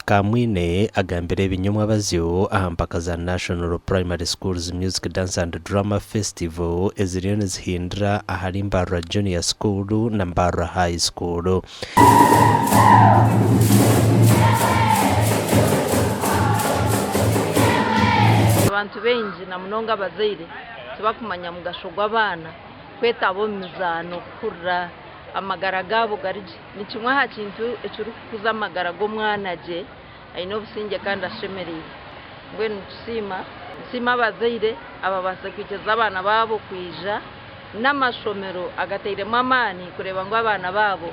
Kamwine agambire ebinyomwa abazyo aha mpaka za National Primary Schools Music Dance and Drama Festival eziriyo nizihindira ahari Mbarara Junior School na Mbarara High School. Abantu baingi na munonga abazaire tibakumanya mugasho gw'abaana kwetaba omu mizaano kuhurira amagara gaabo gari gye. Ni kimwe aha kintu ekirikukuza amagara g'omwana gye aine obusingye kandi ashemereire. Mbwenu nitusiima nisiima abazaire ababaasize kwikiriza abaana baabo kwija n'amashomero agatairemu amaani kureeba ngu abaana baabo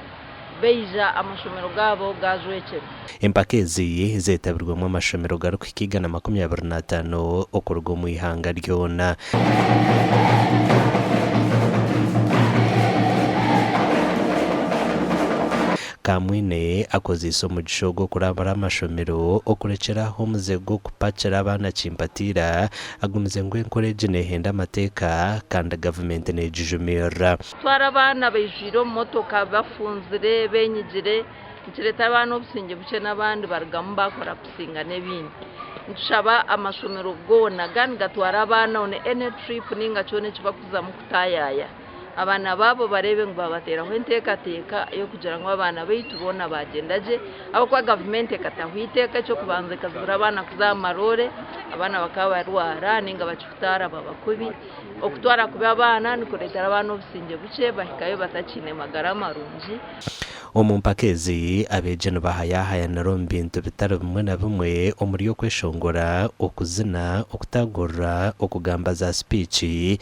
baija amashomero gaabo gaajwekyera. Empaka ezi zeetabirwemu amashomero garikuhika igana makumi abiri n'ataano okuruga omu ihanga ryona. Kamwine akozeise omugisha ogu okurambura amashomero okurekyera aho omuze gw'okupakira abaana kimpatiira, agumize ngu enkora egi neehenda amateeka kandi gavumenti neegijumirira. Kutwara abaana baijwire omu motoka bafunzire, beenyigire Nikireeta abaana obusingye bukye n'abandi barugamu baakora kusinga n'ebindi. Nitushaba amashomero goona gaba nigatwara abaana on any trip nainga kyona eki bakuzamu kutaayaaya abaana baabo bareebe ngu baabateeraho enteekateeka y'okugira ngu abaana baitu boona baagyenda gye ahabw'okuba gavumenti ekataho eiteeka eky'okubanza ekazibira abaana kuza aha maroore abaana bakaba barwara nainga bakihutaara baba kubi. Okutwara kubi abaana nikureetera abaana obusingye bukye bahikayo batakiine magara marungi. Omu mpaka ezi, abeegi nibahayaahayanira omu bintu bitari bimwe na bimwe omuri okweshongora, okuzina, okutaagurura, okugamba za sipiici,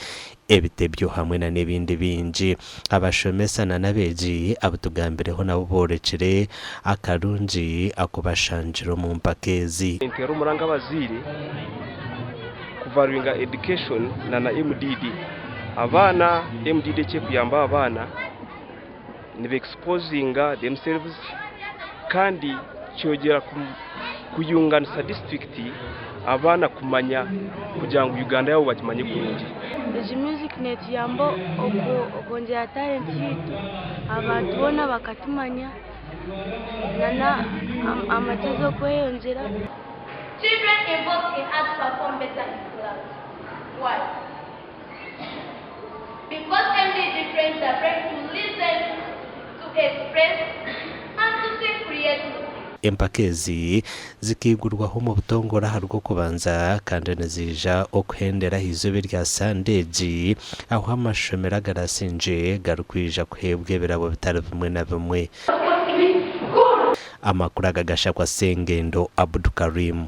ebitebyo hamwe na n'ebindi bingi. Abashomesa na n'abeegi abu tugambireho nabo boorekire akarungi aku bashangire omu mpaka ezi. Ninteera omuranga abazaire kuvaluinga Education na na MDD abaana. MDD eki ekuyamba aba baana. nibe exposinga themselves kandi kyogyera kuyunganisa district abaana kumanya kugira ngu Uganda yabo bagimanye kurungi. Egi music netuyamba okwongyera talent yaitu abantu boona bakatumanya na amagezi okweyongyera. Children involved in arts perform better in clubs. Why? Because MBD prays are ready to listen, to express and to think creatively. Empaka ezi zikaigurwaho omu butongore aha Rwokubanza kandi niziija okuhendera aha izooba erya Sande egi ahu amashomero agarasingye garikwija kuheebwa ebirabo bitari bimwe na bimwe. Amakuru aga gashakwa Ssengendo Abdukarim.